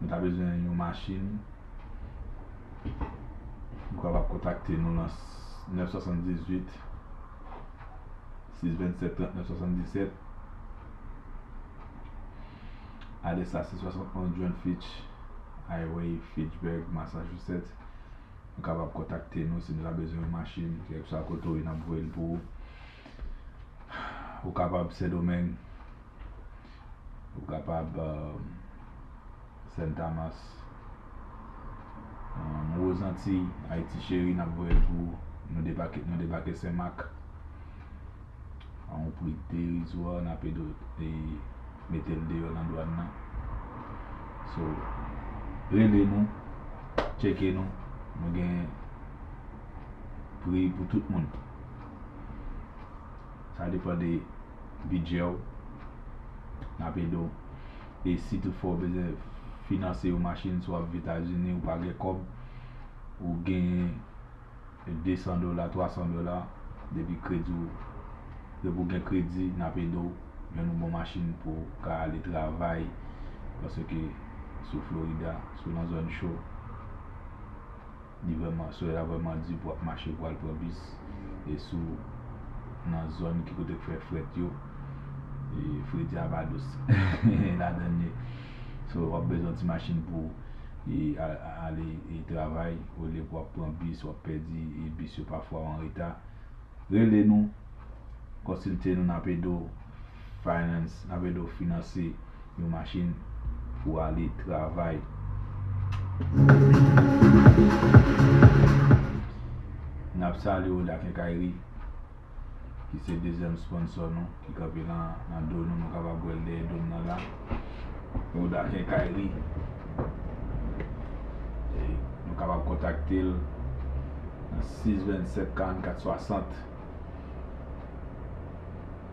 Nou ta bezwen yon machin. Ou kapab kontakte nou nan 978 627 39 77 Adrès la se 71 John Fitch Highway, Fitchburg, Massachusetts. Ou kapab kontakte nou si nou ta bezwen yon machin. Kèlkeswa kote ou ye, n ap voye l pou ou. Ou kapab Sendomeng. Nou kapab Sen Tamas Nouvo Zantiy Ayiti cheri nap voye l pou ou Nou debake Sen Mak A yon pri derizwa nap ede w mete l deyò nan dwàn nan So rele nou Tcheke nou Nou gen pri pou tout moun. Sa depan de bidjè w. N ap ede w. E si tout fwa w bezwen finanse yon machin si w ap viv Etazini, ou pa gen kòb, ou genyen 200 dola, 300 dola, depi kredi w, depi w gen kredi, n ap ede w jwenn yon bon machin pou w ka ale travay paske sou Florida, sou nan zòn cho. Li vrèman, solèy la vrèman di pou ap mache pou al pran bis e sou nan zòn ki kote k fè frèt yo e fredi a pa dous ladan li. So w ap bezwen yon ti machin pou e ale e travay olye pou ap pran bis w ap pèdi e bis yo pafwa w anreta. Rele nou, konsilte nou n ap ede w. Finance, n ap ede w finanse yon machin pou w ale travay. N ap salye w La Kenkayri ki se dezyèm sponsor nou ki kanpe nan do nou, nou kapab wè l dèyè do m nan la. Ou La Kenkayri, nou kapab kontakte l nan 6 27 44 60.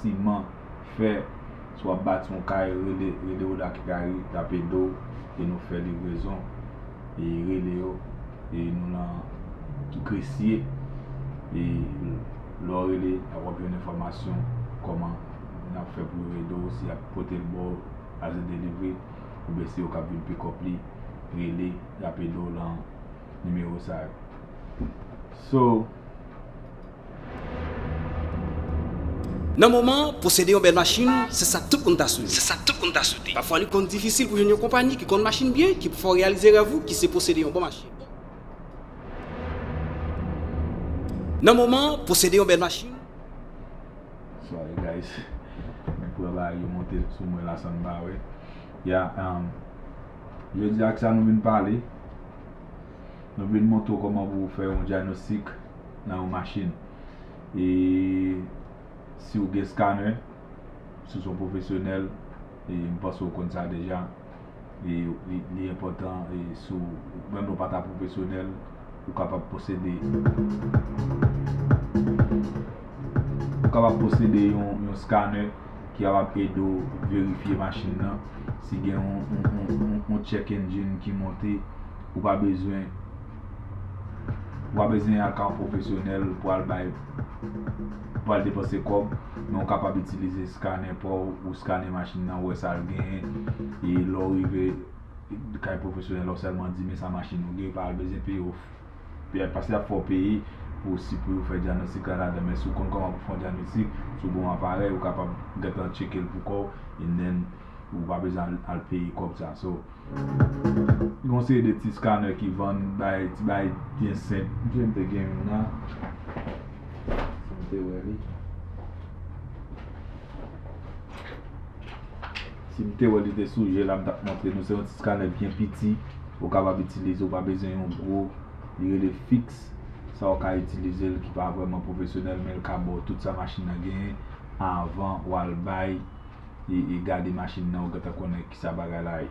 siman, fè, si wap bati yon kay rele rele Oda ki ka ede ap ede w e nou fè livrezon e rele yo e nou nan ki kresye e lè w rele ap wap jwenn enfòmasyon kòman yap fè pou yo ede w si yap pote l ba w as a delivery oubyen se yo kap vin pikòp li rele yap ede w lan Nimewo sa yo So. Nan moman an, posede yon bèl machin, se sa tout moun ta swete. Pafwa li konn difisil pou jwenn yon konpani ki konn machin byen ki pou fè w reyalize rèv ou ki se posede yon bon machin. Nan moman an, posede yon bèl machin. Sorry guys, mwen pran bagay yo monte sou mwen la san m pa wè. Yeah, um. Jodi a ak sa nou vin pale, nou vin montre w kòman pou w fè yon dyanostik nan yon machin. E si w gen skanè, si w se yon pwofesyonèl, e m panse w konn sa deja, e li enpòtan e si w, menm lè w pa ta pwofesyonèl, Ou kapab posede Ou kapab posede yon skanè ki kapab ede w verifye machin nan si gen yon check engine ki monte ou pa bezwen ou pa bezwen al ka yon pwofesyonèl pou al bay pou al depanse kòb men ou kapab itilize skanè pa w ou skane machin nan wè sa l genyen e lè w rive kay pwofesyonèl ou sèlman di men sa machin ou gen yo pa bezyen peye ou fè paske yap fè ou peye pou si pou yo fè dyanostik la ladan men si ou konn kòman pou fon dyanostik si ou gon aparèy ou kapab gentan tchekel pou kòw and then ou pa bezyen al peye kòb sa so gen yon seri de ti scanner ki vann bay ti bagay byen senp msye mte gen youn la si mte wè li. Si m te wè li te sou je la m tap montre nou se yon ti scanner byen piti ou kapab itilize ou pa bezwen yon gwo li rele fix sa ou ka itilize l ki pa vrèman pwofesyonèl men l ka ba w tout sa machin nan genyen avan wal bay e gade machin nan ou gentan konnen kisa bagay la ye.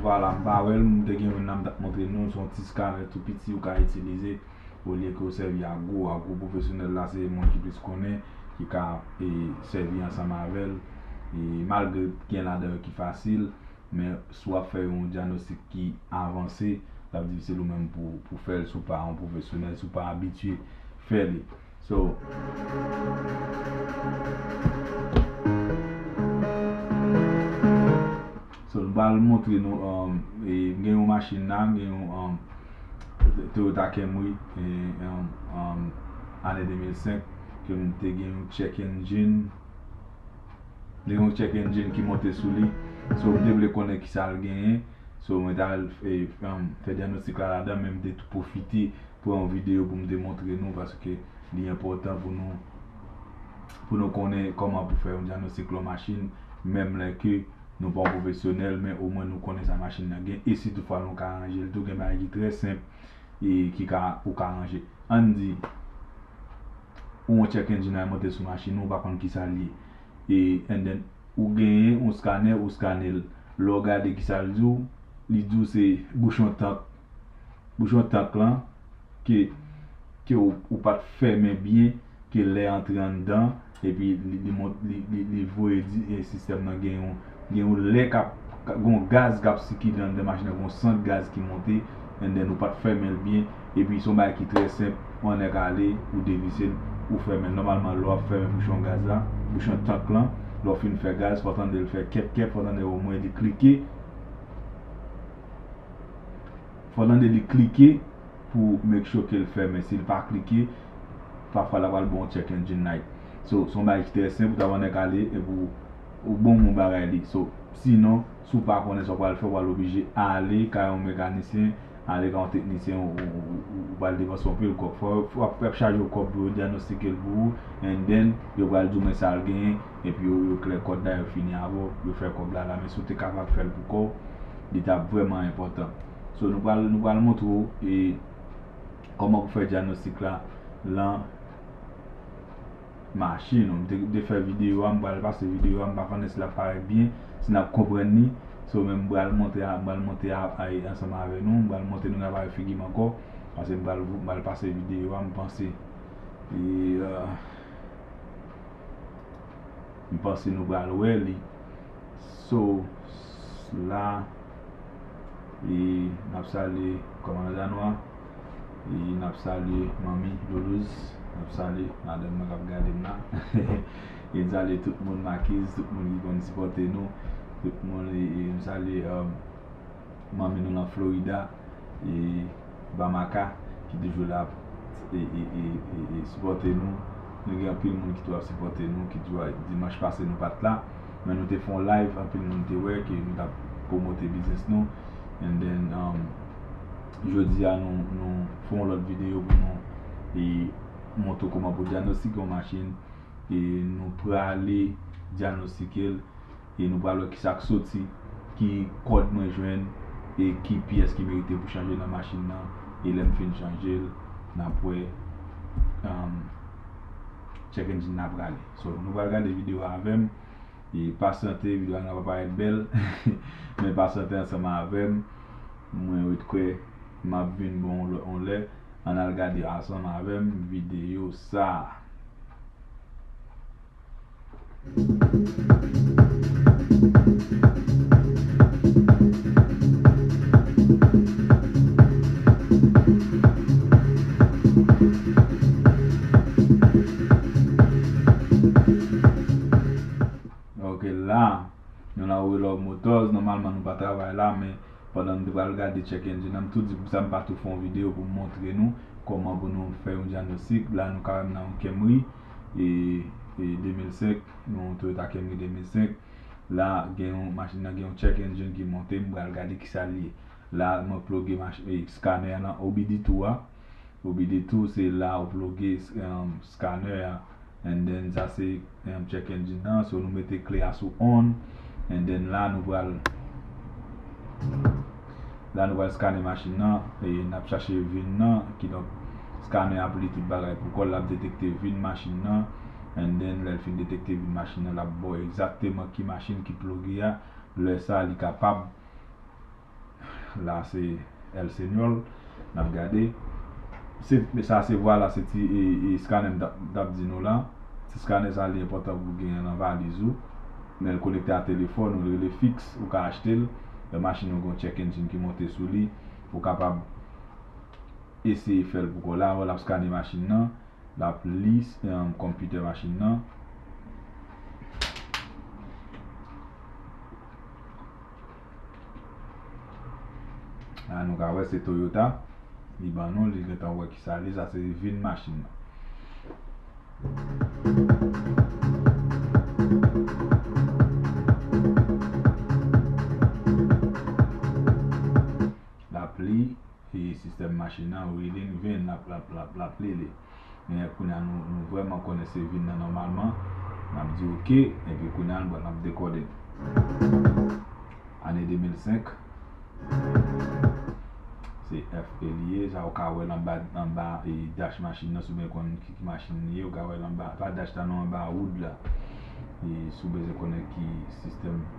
Vwala m pa wè l, m te gen youn la m tap montre nou, s on ti scanner tou piti ou ka itilize olye ke w sèvi ak gwo a, gwo pwofesyonèl la se moun ki plis konnen ki ka sèvi ansanm avè l, malgre gen ladan yo ki fasil. men si w ap fè yon dyanostik ki avanse, l ap difisil ou menm pou w fè l si w pa yon pwofesyonèl, si w pa abitye fè li. So, m pral montre nou, m gen yon machin la, m gen yon Toyota Camry ane 2005 ke m te gen yon check engine. Li yon check engine ki monte sou li. So m te vle konnen kisa l genyen. So mwen t al fè dyanostik la ladan men m te tou pwofite pran yon videyo pou m te montre nou paske li enpòtan pou nou pou nou konnen kòman pou fè yon dyanostik lon machin menm lè ke nou pa yon pwofesyonèl men omwen nou konnen sa machin nan gen e si toutfwa nou ka ranje l tou gen bagay ki trè senp e ki ka ou ka ranje. Ann di. ou yon check engine a monte sou machin ou ou pa konn kisal ye e and then ou genyen yon scanner ou scanner l lè w gade kisal di w li di w se bouchon tank bouchon tank lan ke ke ou pat fèmen byen ke lè antre anndan epi li li li voye di sistèm nan gen yon Gen yon lè kap gon gaz kap sikile anndan machin nan gon sant gaz ki monte and then ou pat fèmenl byen epi son bagay ki trè senp wan nèg ale ou devisel ou fèmenl nòmalman lè wap fèmen bouchon gaz la bouchon tank lan lèw fin fè gaz fò tandel fè kèp kèp fò tandel omwen li klike fò tande li klike pou make sure kel fèmen sil pa klike pafwa la pral bon check engine light so son bagay ki trè senp ou ta wè yon nèg ale epi ou Ou bon mon bagay li so si non si w pa konnen sa w pral fè w pral oblije ale kay yon mekanisyen ale kay yon teknisyen ou pral depanse anpil kòb fò yo ap chaje w kòb pou yo dyanostike l pou ou and then yo pral di w men sa l genyen epi yo klè kòt la yo fini avè w yo fè kòb la la men si w te kapab fè l pou kò w li tap vrèman enpòtan so nou pral nou pral montre w e kòman pou fè dyanostik la lan. mache non m te de fè video a m pral pase video a m pa konn èske lap parèt byen si nap konprann li so men m pral montre a m pral monte a ansanm avè nou m pral monte nou nan pare figi m ankò pase m pral m pral pase video a m panse m panse nou pral wè li so la e nap salye kòmandan Danois. E n ap salye manmi Doulouz, n ap salye madanm mwen k ap gade m la. E n salye tout moun Makiz, tout moun ki konn sipòte nou. Tout moun, e m salye manmi nou nan Florida, e Bamaka ki toujou la ap sipòte nou. Nou gen anpil moun ki tou ap sipòte nou, ki tou dimanch pase nou pa t la. Men nou te fè yon live, anpil moun te wè ke nou t ap pwomote biznis nou. And then, Jodi a nou nou fè yon lòt videyo pou nou e montre w kòman pou dyanostike yon machin e nou prale dyanostike l e nou pral wè kisa k soti ki kòd mwen jwenn e ki pyès ki merite pou chanje nan machin nan e lè m fin chanje l n ap wè check engine nan prale so nou pral gade videyo a avè m. e pasyante video a nan pa parèt bèl men pasyante ansanm avèm mwen ret kwè map vin bon on lè ann al gade ansanm avèm video sa. Ok la Nou nan We Love Motors Nòmalman nou pa travay la men pandan m te pral gade check engine an m tou di poukisa m pa tou fè yon videyo pou m montre nou kòman pou nou fè yon dyanostik la nou kawè m nan yon Camry e 2005 yon Toyota Camry 2005 la gen yon machin nan gen yon check engine ki monte m pral gade kisa l ye la mwen ploge scanner an nan OBD2 a. Bobby di tou se la ou ploge scanner a and then sa se check engine nan so nou mete kle a sou on and then la nou pral la nou pral scanner machin nan e nap chache vin nan kidonk scanner ap li tout bagay pou kòl lap detekte vin machin nan and then lèl fin detekte vin machin nan lap baw egzakteman ki machin ki ploge a lè sa li kapab la se el señor nap gade se sa se vwala se ti eskanè m tap di nou la ti skanè sa li enpòtan pou genyen nan valiz ou menl konekte a telefòn ou li rele fiks ou ka achtel lè machin ou gen yon check engine ki monte sou li ou kapab eseye fèl pou kòw la wè lap skanè machin nan lap li konpitè machin nan. La nou ka wè se Toyota li ban nou li gentan wè kisa li ye sa se vin machin nan. Lapli e sistèm machin an rilin vin lap lap lap lapli li men kounya nou vrèman konnen se vin nan nòmalman nap di ok epi kounya bon nap dekòde ane 2005 se FE li ye sa ou ka wèl anba anba dash machin nan si ou byen konn ki machin li ye ou ka wèl anba pa dash la non anba woud la e si ou bezwen konnen ki sistèm.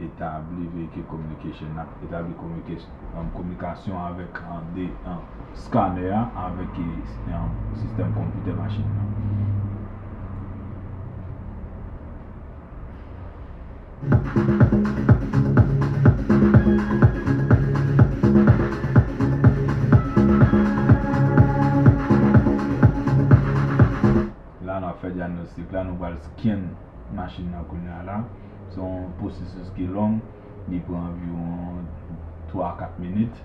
etabli veyikil kominikasyon nan, etabli kominikasyon avèk de scanner a avèk sistèm konpitè machin nan. La nap fè dyagnostik la, nou pral scan machin nan kounya la. Se yon pwosesis ki long, li pran anviwon 3 a 4 minit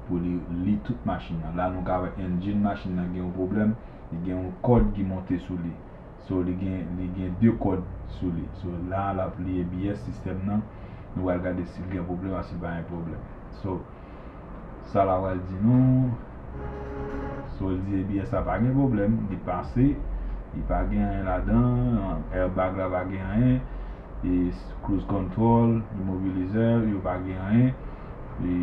pou li li tout machin nan. La nou ka wè engine machin nan gen yon pwoblèm, li gen yon kòd ki monte sou li. So li gen li gen 2 kòd sou li. So la lap li ABS sistèm nan, nou pral gade sil gen pwoblèm ak sil pa gen pwoblèm. So. Sa la pral di nou? Si w di ebyen sa pa gen pwoblèm, li pase, li pa gen anyen ladan, airbag la pa gen anyen, e cruise control, immobiliseur yo pa gen anyen, e.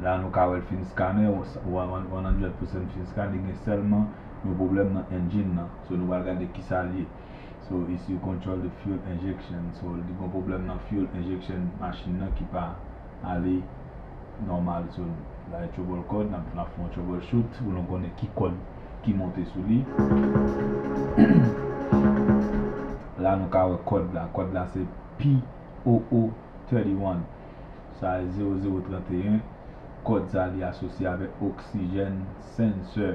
La nou ka wè l fin scanner, 100% fin scanner, li gen sèlman. yon problem nan engine nan so nou pral gade kisal ye so issue control the fuel injection so li gon problem nan fuel injection machine nan ki pa ale normal so bay trouble code nap nap fè yon trouble shoot pou nou konnen ki kòd ki monte sou li la nou ka wè kòd la kòd la se POO31 sa e 0031 kòd sa li asosye avèk oxygen sensor.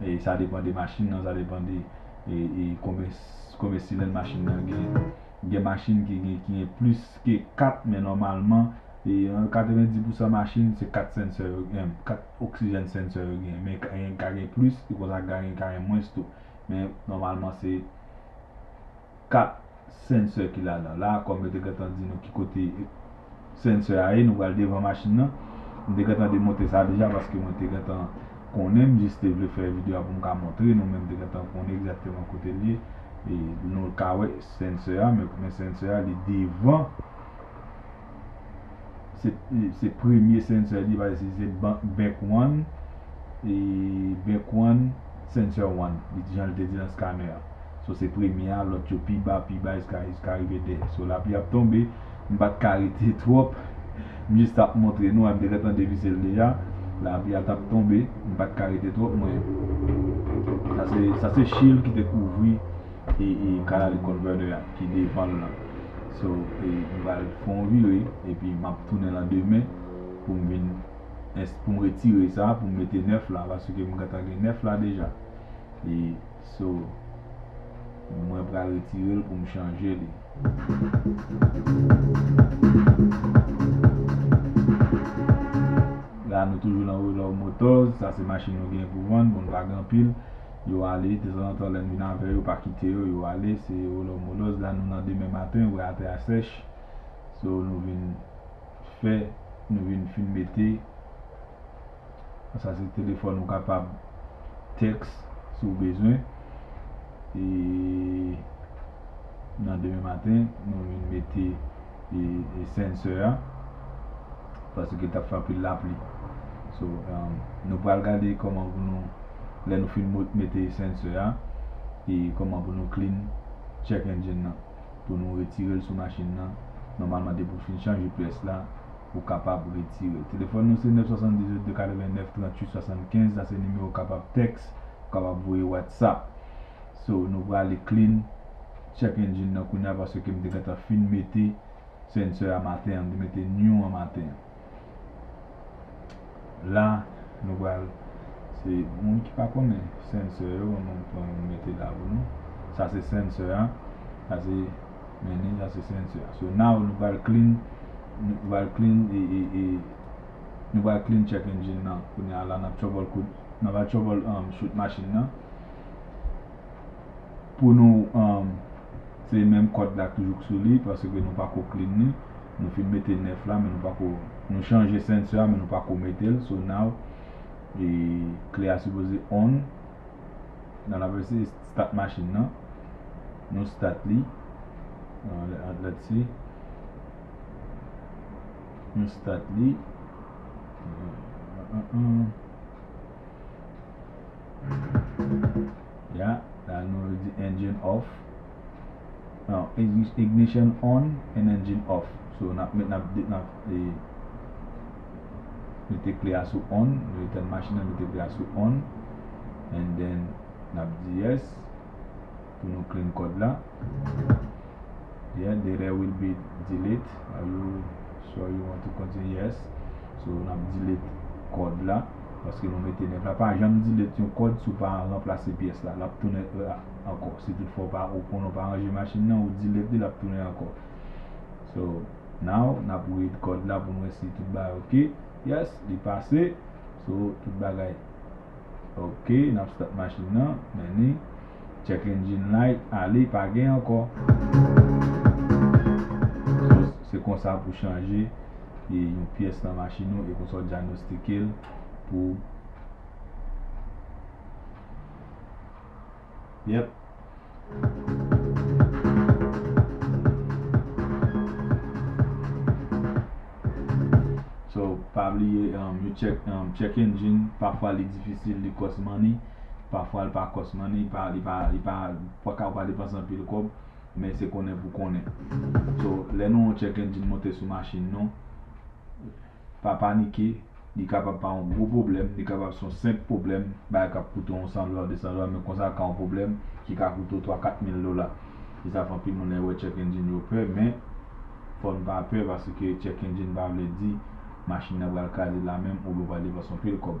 e sa depan de machin nan, sa depan de e konben konben silèn machin nan gen. Gen machin ki gen ki gen plis ke 4 men nòmalman e 90 pousan machin se 4 sensè yo gen, 4 oksijèn sensè yo gen men ka gen ka gen plis e konsa ka gen ka gen mwens tou men nòmalman se. 4 sensè ki ladan la kòm yo te gentan di nou ki kote sensè a ye nou pral devan machin nan m te gentan demonte sa deja paske mwen te gentan konnen m jis te vle fè video a pou m ka montre nou men m te gentan konnen egzakteman kote l ye e nou ka wè sensè a men sensè a li devan se premye sensè li paske si se back one e back one sensè one li di jan li te di nan scanner an so se premye a lòt yo pi ba pi ba jiska rive 2 so lapli ap tonbe m pat ka rete twòp m jis tap montre nou a m te gentan devise l deja lapli a tap tonbe m pat ka rete twòp mwen sa se shield ki te kouvri e Canali converter a ki devan l lan so m pral fè yon vire epi map tounen lan demen pou m vin pou m retire sa pou m mete 9 la paske m gentan gen 9 la deja e so mwen pral retire l pou m chanje li. La nou toujou lan Renault motors sa se machin nou gen pou vann bon n pa gen anpil. Yo ale, dezanzantan lè n vin avè yo pa kite yo, yo ale, se olò molòz la nou nan demen maten wè atè a sèch, so nou vin fè, nou vin fin mete, sa se telefòn ou kapab tèks si w bezwen, e nan demen maten nou vin mete. e sensor a paske tap fè anpil lapli so nou pral gade kòman pou nou lè nou fin mete sensor a e kòman pou nou clean check engine nan pou nou retirel sou machin nan nòmalman depi ou fin chanje pyès la ou kapab retirel telefòn nou se 978 289 38 75 sa se nimewo ou kapab tèks ou kapab voye whatsapp so nou prale clean. check engine nan kounya paske kem te gentan fin mete sensor a maten an mte mete new an maten an la nou pral se moun ki pa konnen sensor yo ban mwen pran youn mete la pou nou sa se sensor a sa se mennen sa se sensor a so now nou pral clean nou pral clean nou pral clean check engine nan kounya la nap trouble kout nan pral trouble shoot machine nan. Pou nou se menm kòd la k toujou k sou li paske nou pako clean li nou fin mete nèf la men nou pako nou chanje sensor a men nou pako metel so now e kle a sipoze on nan lap eseye start machine nan nou start li let's see nou start li uh uh uh uh. Ya la nou yo di engine off non ignition on and engine off so nap met nap de nap e mete kle a sou on nou etèn machin nan mete kle a sou on and then nap di yes pou nou clean kòd la yeah data will be delete are you sure you want to continue yes so nap delete kòd la. paske nou mete nèg la pa janm dilèt yon kòd si w pa ranplase pyès la l ap tounen E a ankò si tout fwa w pa ou konnen w pa ranje machin nan ou dilèt li l ap tounen ankò so now n ap read kòd la pou n wè si tout bagay ok yes li pase so tout bagay ok n ap start machin nan men ni. Check engine light ale pa gen ankò so se konsa pou chanje yon pyès nan machin ou e konsa w dyanostike l pou yep. So pa bliye yon check engine pafwa li difisil li cost money. pafwa li pa kòs man, li pa li pa li pa paka ou pa depanse anpil kòb men se konnen pou konnen. So lè nou yon check engine monte sou machin nou pa panike li kapab pa yon gwo pwoblèm, li kapab se yon senp pwoblèm, bagay k ap koute w yon 100 dola, 200 dola men konsa ka yon pwoblèm ki ka koute w 3, 4 mil dola. Se sa fè anpil moun lè yo wè check engine yo pè men fò n pa pè paske check engine pa vle di machin nan pral kraze la menm oubyen ou pral depanse anpil kòb.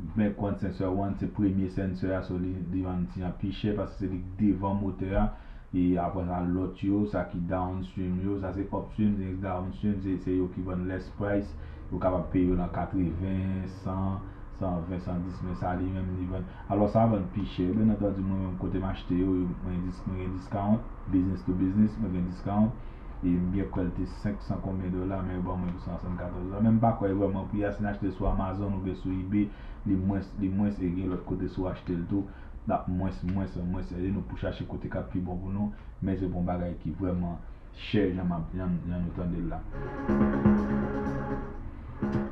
Bmèk wan sensè wan se premye sensè a so li vann ti an pi chè paske se li ki devan motè a e apre sa lòt yo sa ki downstream yo sa se upstream ex downstream se yo ki vann less price ou kapab peye yo nan 80 100 120 110 men sa li menm li vann alò sa vann pi chè byen antandi mwen menm kote m achte yo mwen gen discount business to business mwen gen discount. e m byen kwè l te 500 konbyen dola men yo ban mwen pou 174 dola men m pa kwè vrèman pri a si n achte l sou amazon oubyen sou ebay li mwens li mwens e gen lòt kote si w achte l tou l ap mwens mwens an mwens ede nou pou chache kote k ap pi bon pou nou men se pa yon bagay ki vrèman chè jan m ap jan nou tande l la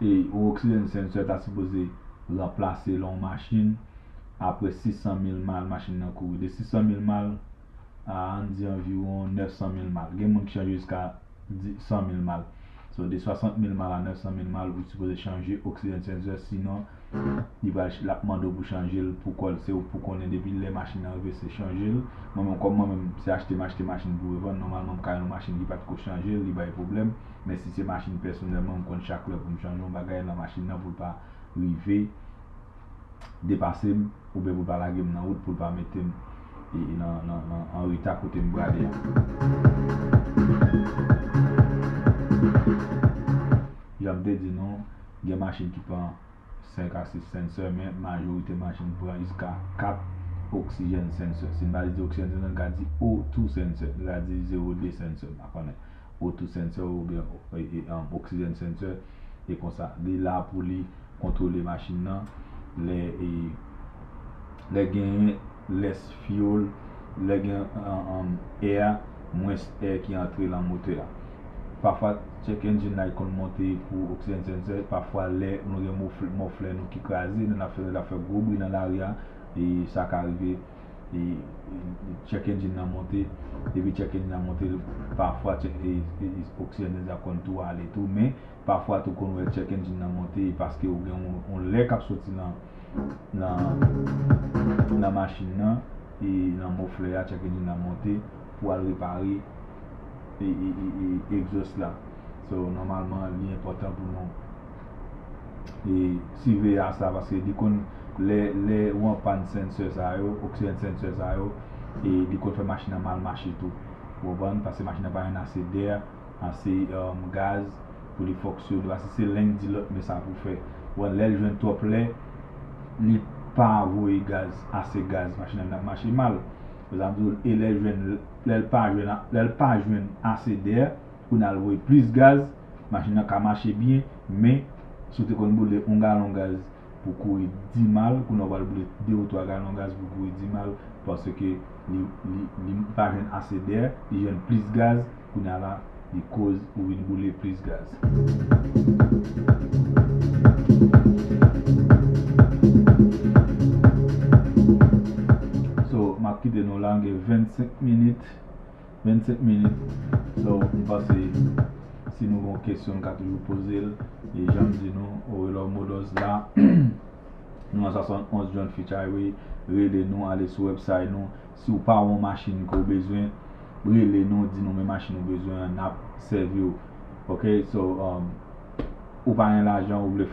e yon oxygen sensor ta sipoze ranplase lè yon machin apre 600 mil mal machin nan kouri de 600 mil mal a an di anviwon 900 mil mal. Gen moun ki chanje jiska 100 mil mal. So de 60 mil mal a 900 mil mal ou sipoze chanje oxygen sensor sinon li pral lap mande w pou chanje l pou kòl. Se ou pou konnen depi lè machin nan rive se chanje l. Mwen menm kòm mwen menm se achte m achte machin pou revann nòmalman m ka yon machin ki pat ko chanje li bay pwoblèm men si se machin pèsonèlman m konn chak lè pou m chanje yon bagay nan machin nan pou l pa rive depase m oubyen pou l pa lage m nan wout, pou l pa mete m an reta kote m prale a. Jan m te di nou, gen machin ki pran 5 a 6 sensè men majorite machin pran jiska 4 oxygen sensè. Si n pa di oxygen sensè, n ka di O2 sensè. Nou ka di 02 sensè, m pa konnen. O2 sensè oubyen oxygen sensè. e konsa li la pou li kontwole machin nan lè e lè genyen lès fiyol lè gen an è a mwens è ki antre lan motè a pafwa check engine light konn monte pou oxygen sensor pafwa lè nou gen moflè nou ki kraze lè nap fè lè lap fè gwo bri nan lari a e sa ka rive. e check engine nan monte depi check engine nan monte pafwa oxygen nan sa konn tou ale tou men pafwa tou konn wè check engine nan monte e paske ou gen yon lè kap soti nan nan machin nan e nan moflè a check engine nan monte pou al repare e exhaust la. So nòmalman li enpòtan pou nou e siveye a sa paske li konn lè lè ou anpàn sensè sa yo oksijèn sensè sa yo e li konn fè machin nan mal mache tou ou konprann paske machin nan pa jwenn ase dè ase gaz pou li fonksyone paske se len k di lòt men sa pou fè ou konprann lèl jwenn twòp lè li pa voye gaz ase gaz machin nan vin ap mache mal se sa m di w e lèl jwenn lèl pa jwenn lèl pa jwenn ase dè. Pou n al voye plis gaz, machin nan ka mache byen, men, si w te konn boule yon galon gaz pou kouri dimal, kounye a w pral boule de ou twa galon gaz pou kouri dimal, paske li pa jwenn ase dè, li jwenn plis gaz, kounye a la, li koz ou vin boule plis gaz. 25 minit so m panse si nou gen yon kesyon nou ka toujou poze l e jan m di nou Orelor Models la nou nan 71 John Fitch Highway rele nou ale sou website nou si w pa wè yon machin ke w bezwen rele nou di nou men machin ou bezwen an n ap sèvi w ok so ou pa gen lajan ou vle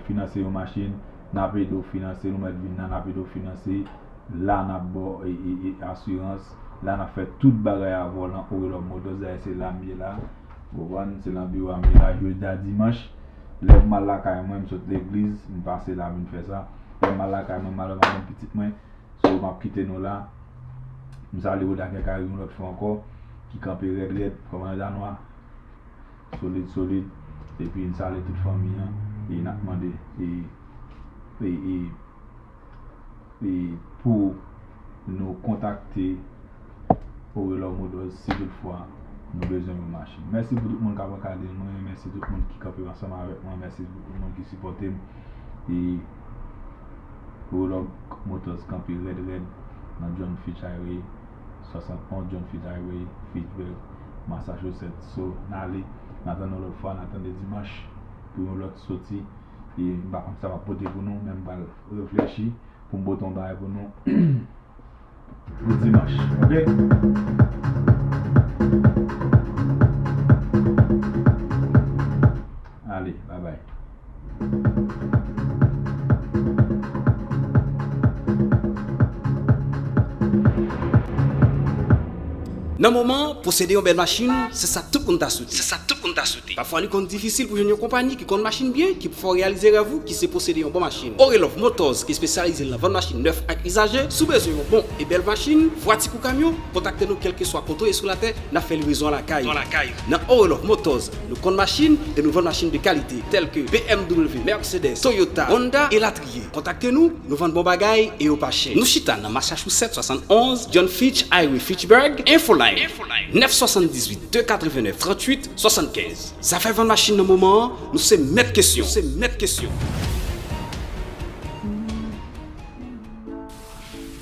finanse yon machin n ap ede w finanse nou mèt vin nan n ap ede w finanse la n ap ba w asirans. la nap fè tout bagay a volan ou lò moto zè se lam ye la ou konprann se lan biwo am ye la jodi a dimanch lèm mal lakay mwen m sot legliz m pase la vin fè sa lèm mal lakay mwen mal avèk pitit mwen so map kite nou la m salye ou dakè kay ou yon lòt fwa ankò ki kanpe rèd rèd kòmandan danwa solid solid epi m salye tout fanmi an e nap mande e e e. e pou nou kontakte Orelor Motors si tout fwa nou bezwen yon machin. Mèsi pou tout moun kap ankadre mwen, mèsi tout moun ki kanpe ansanm avèk mwen, mèsi pou tout moun ki sipòte m e Orelor Motors kanpe rèd rèd nan John Fitch Highway 71 John Fitch Highway, Fitchburg, Massachusetts. So, n ale, n ap tann nou lòt fwa, n ap tann de dimanch pou yon lòt soti. e m pa konn sa m ap pote pou nou men m pral reflechi pou m pote yon bagay pou nou pou dimanch ok ale babay. Nan moman an, posede yon bèl machin, se sa tout moun ta soute. Pafwa li konn difisil pou jwenn yon konpayi ki konn machin byen ki pou fè w reyalize rèv ou ki se posede yon bon machin. Orelov Motors ki espesyalize nan vann machin nèf ak izaje. Si w bezwen yon bon e bèl machin, vwati kou kamyon, kontakte nou kèlkeswa kote w ye sou latè, n ap fè livrezon lakay ou. Nan Orelov Motors, nou konn machin e nou vann machin de kalite, tèlke, bmw, Mercedes, Toyota, Honda, elatriye. ye. Kontakte nou, nou vann bon bagay e yo pa chè. Nou chita nan Massachusetts 71 John Fitch Highway Fitchburg Infoline 978 289 38 75 Zafè vann machin nan moman an nou se mèt kesyon.